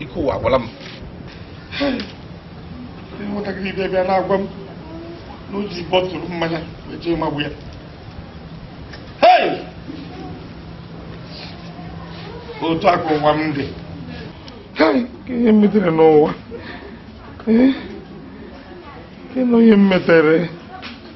ike ụwa agwụla m nwatakịrị ibe bịa na-agwa m na o ji bottle mmanya wee jee magbu ya Hey! otu a ka ụwa m dị Hey! kedu ihe m metere n'ụwa Eh? Kedu ihe m metere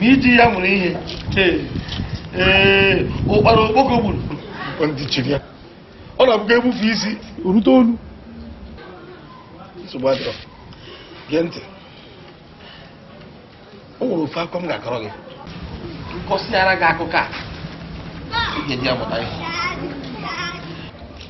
ma i ji ya mụrụ ihe ee ụkpara okpoko gburu ntị chiri ya ọ na-abụkwa e bufee isi o rute olu nsogbu adịrọ gee ntị o nwere ofu akụkọ m ga-akọrọ gị m kọsịara gị akụkọ a ị ga-eji amụta ihe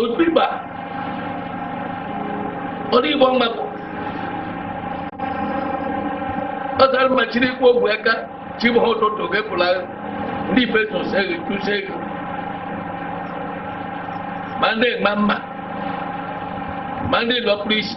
odigba odigbo mgbapụ ọ zara mma chiri ikwu ogwe aka chibụ ha ụtụtụ gepụla ndị betos eghe tụsi eghe ma ndị ma mma ma ndị lọpụrụ isi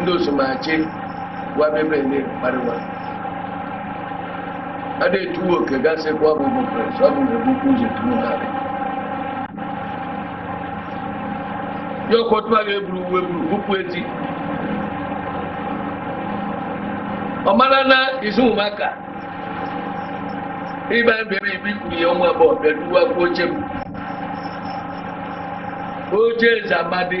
ndị osomachi gwa bebe ndị kparịwa a na-etuwe oke gasị kwa ọ bụ bụ pres ọ bụ na ebukwu ụzọ tuwo ha dị ya ọkọtụ a ga-eburu uwe buru bupụ eti ọ mara na izu ụmụaka ịba bere ibi kwuru ya ọnwa abụọ bịa duwa kwa oche m oche eze amadi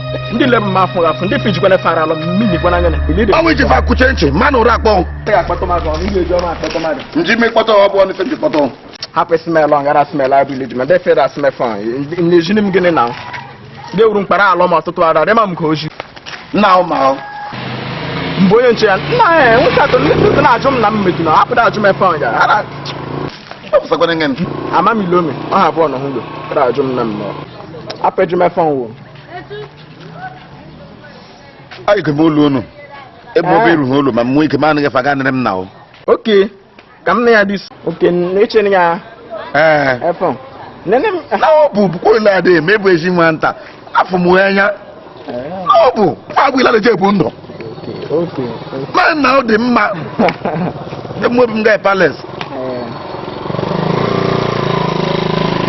ndị le mma afụ afụ ndị fijikwana fara alọ mmiri gwana anya na mmiri ọnwụ iji fa kuche ntị ma na ụra akpọ nji ime kpọtọ ọ bụ ọnụ ife nji kpọtọ hapụ smel ọngara smel abụ ilidi ma defere asmefọ na-ejini m gịnị na ndị wuru mkpara alọ ma ọtụtụ ara rịma m ka oji nna ahụ ma ahụ mgbe onye nche ya nna ya nwoke atọ ndị sisi na-ajụ m na m meju na hapụda ajụ m efe onye ara ọpụsakwana nge ama m ilome ọ ha abụọ na hụgo ajụ m na mmụọ apụ eju m efe ọnwụ ayike m olu unu ebe ọ bụ erughị olu ma m nwee ike ma anaghị faga nere m na o oke ka m na ya dị isi oke n'eche na ya ee efọ nene m na ọ bụ bụkwa ole adị eme bụ ezi nwa nta afọ m wee anya na ọ bụ nwa agbụ ilada je bụ ndụ oke ma na ọ dị mma emuobi m gaa palace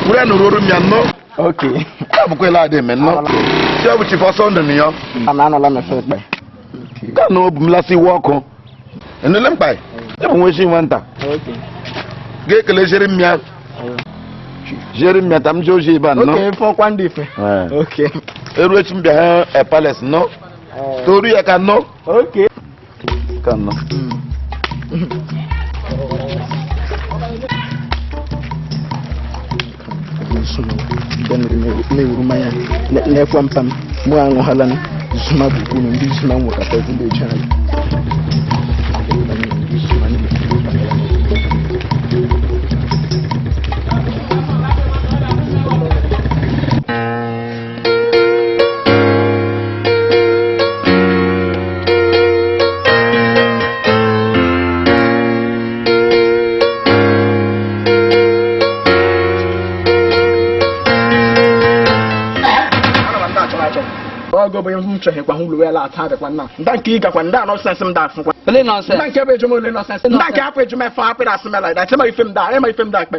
were nụrụ oru m ya nnọọ oke abụkwala adị eme nnọọ ya bụ Chief Ọsọndụ na ya a na anọla mefe ekpe ka na obu m lasị iwe ọkụ enule mkpa ya bụ nwa isi nwa nta oke ga-ekele jere m ya jere m ya ta m jee ozi ebe a nnọọ oke fọkwa ndị ife Ee. oke eru echi m bịa ha palace nnọọ toru ya ka nnọọ oke Kanno. na-ewuru mmanya na-ekwe mpa m mụ aṅụhala m zuma bụ unu ndị zuma m nwekọta ezigbo eji anyị ọgọ bụ ihe m chọghị kwa hụlụ ya lata adịkwa nna nda nke ị gakwa nda nonsense m da afụkwa Ole nonsense? nda nke bụ eju m ole nonsense nda nke apụ eju m efe apịrị asị mela ịda ịma ife m da ịma ife m da akpe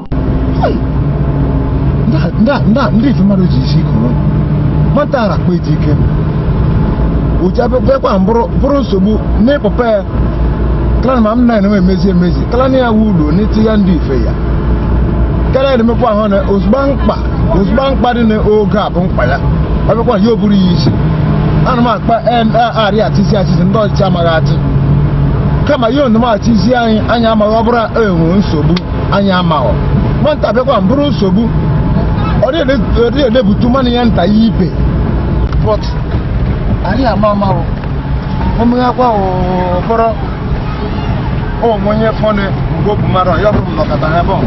ndị ife mmadụ ji isi kụrụ nwata ara kpa eti ike ụja bịakwa bụrụ nsogbu n'ịpụpa ya kala ma m na enwe emezi emezi kala na ya wu ụlọ n'iti ya ndị ife ya karịa na-emekwa ahụ na ozugbo mkpa ozugbo mkpa dị n'oge a bụ mkpa ya ọ bịakwa ya o buru ya isi ana m akpa arị atịzi atịzi ndị ọchịchị amaghị atị kama ya onumachịzi anyị anyị amaghị ọ bụrụ enwe nsogbu anyị amaghọ nwata bịakwa bụrụ nsogbu ọ dịghị edebutu mmanụ ya nta ya ibe but anyị ama amaghọ o meghakwa ụfọrọ o nwe onye fọnụ mgbe obu mmadụ ya bụrụ nnọkọta ha ebe ọ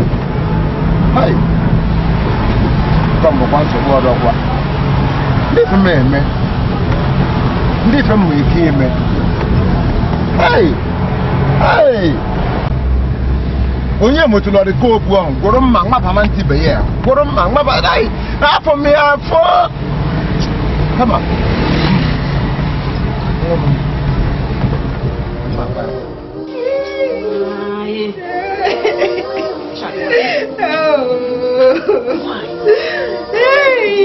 bụkwa nsogbu ọ dịkwa ndị ife m eme ndị ife m nwere ike ime onye motụlọrị kopu ahụ gwụrụ mma maba nwanta ibe ya gwụrụ mma maba afọ m ya afọ kama Hey!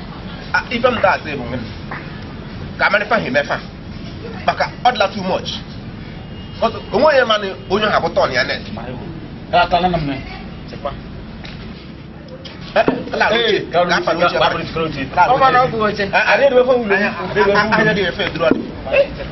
ife m da asị bụ ka a marị ife ha eme fa maka ọ dịla too much o nwe onye mana onye ha bụ turn ya next Hey,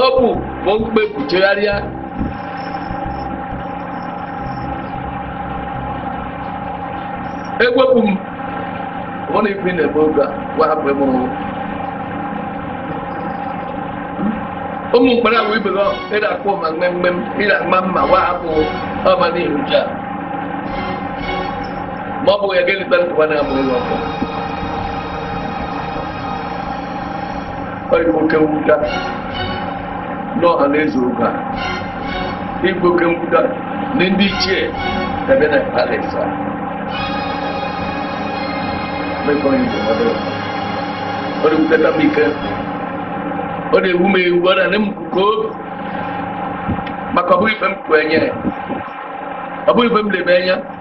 Hopu bụ mkpepu chegharịa. Egwepụ m ọ na ife na-eme oge a gwa hapụ ebe ọrụ. Ụmụ mkpara ahụ ibe gị ịda akpọ ma mmemme ịda mma mma gwa hapụ ọma n'ihu ji a. Ma ọ bụ ya ga-eleta nkwa na-amụ ụlọ ọkụ. ọ dị oke mwute n'ọha na eze oge a ịbụ oke mwute na ndị ichie ebe na paris a mekọ ihe dị ọdụ ọ dị mwute tam ike ọ na-ewu m ewu ọ na-enye m nke obi maka ọ bụghị ife m kwenye ọ bụghị ife m lebe anya